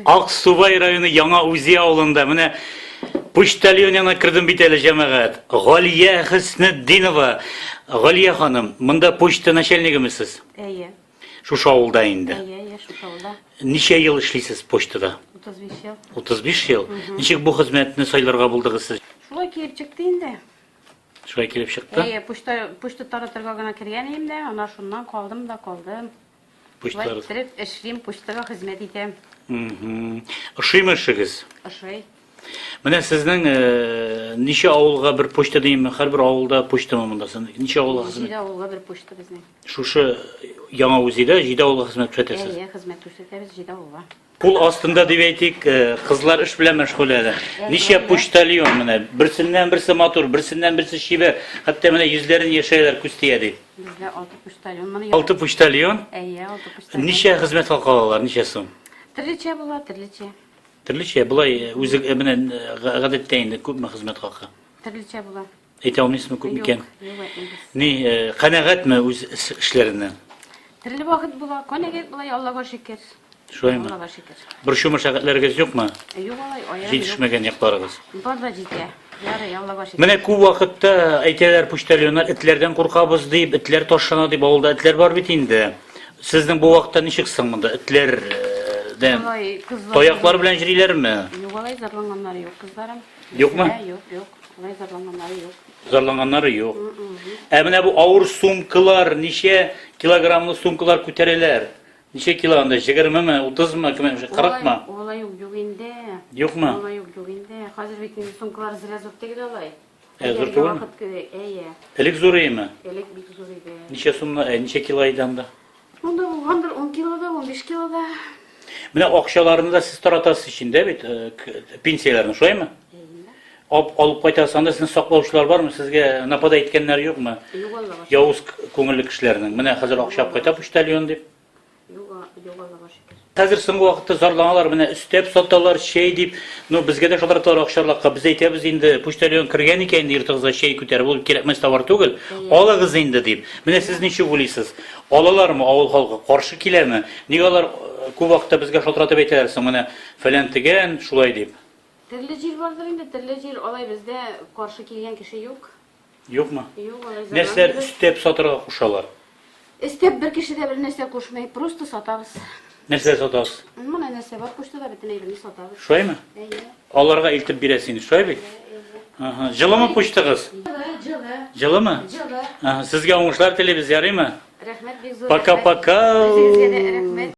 Аксубай районы Яңа Үзе авылында менә почтальон янына кердем бит әле җәмәгать. Галия Хөснетдинова. Галия ханым, монда почта начальнигеме сез? Әйе. Шушы авылда инде. Әйе, әйе, шушы авылда. Ничә ел эшлисез почтада? 35 ел. 35 ел. Ничек бу хезмәтне сайларга булдыгыз сез? Шулай килеп чыкты инде. Шулай килеп чыкты. Әйе, почта почта таратырга гына кергән идем дә, ана шуннан калдым да калдым. Почта иттереп эшлим, почтага хезмәт итәм. Ошыймы эшегез? Ошый. Менә сезнең э, ничә авылга бер почта димме? Һәрбер авылда почтамы монда син? Ничә авылга хезмәт? Җиде авылга бер почта безнең. Шушы яңа үзидә җиде авылга хезмәт күрсәтәсез. Әйе, хезмәт күрсәтәбез җиде авылга. Кул астында дип әйтик, э, кызлар эш белән мәшгуль әле. Ничә почтальон менә, берсеннән берсе матур, берсеннән берсе чибәр. Хәтта менә йөзләрен яшәйләр күз тия ди. Бездә алты почтальон мына. Алты почтальон. Әйе, алты почтальон. Ничә хезмәт хакы алалар, ничә сум? Төрлечә була, төрлечә. Төрлечә, болай э, үзе э, менә гадәттә инде күпме хезмәт хакы? Төрлечә була. Әйтә алмыйсызмы күп микән? Ни, э, канәгатьме үз эшләреннән? Төрле вакыт була, канәгать була, Аллага шөкер. Шулаймы? Аллага шөкер. Борчума шәгатьләрегез юкмы? Э, юк алай, аяк. Җитешмәгән якларыгыз. Бар да җитә. Ярый, Аллага шөкер. Менә күп вакытта әйтәләр почтальоннар этләрдән куркабыз дип, этләр ташлана дип, авылда этләр бар бит инде. Сезнең бу вакытта ничек соң монда этләрдән? Э, Таяклар белән җөриләрме? Юк алай, зарланганнар юк, кызларым. Юкмы? Ә, юк, юк. Алай зарланганнары юк. Зарланганнары юк. Ә менә бу авыр сумкалар, ничә килограммлы сумкалар күтәрәләр? Ничә кило анда? 20-ме, 30-мы, 40-мы? Алай юк, юк инде. Юкмы? Алай юк, юк инде. Хәзер бит инде сумкалар зря зур түгел алай. Ә зур түгелме? Әйе. Элек зур иеме? Элек бик зур иде. Ничә сумны, ә ничә кило иде анда? Монда булгандыр 10 килода, 15 килода. Менә акчаларны да сез таратасыз ич инде бит, э, к- пенсияләрне, шулаймы? Ап, алып кайтасыз, анда сезне саклаучылар бармы, сезгә нападать иткәннәр юкмы? Юк Аллага. Явыз к- күңелле кешеләрнең. Менә хәзер акча алып кайта почтальон дип. Юк, а- юк Аллага шөкер. Хәзер соңгы вакытта зарланалар, менә өстәп саталар, чәй дип. Ну, безгә дә шалтыраталар акчарлакка. Без әйтәбез инде, почтальон кергән икән инде йортыгызга чәй күтәреп, ул кирәкмәс товар түгел, алыгыз инде дип. Менә сез ничек уйлыйсыз, алалармы, авыл халкы каршы киләме? Ник алар күп вакытта безгә шалтыратып әйтәләр соң, менә фәлән тегән шулай дип? Төрле җир бардыр инде, төрле җир. Алай бездә каршы килгән кеше юк. Юкмы? Юк, алай заман. Нәрсәләр өстәп сатырга кушалар? Өстәп бер кеше дә бернәрсә кушмый, просто сатабыз. Нәрсә сатабыз? Менә нәрсә бар кушты да бөтен әйберне сатабыз. Шулаймы? Әйе. Аларга илтеп бирәсеңез, шулай бит? Ага. Җылымы почтыгыз? Җылы, җылы. Җылымы? Җылы. Ага, сезгә уңышлар телибез, ярыймы? Рәхмәт бик зур. Пока-пока. Үзегезгә дә рәхмәт.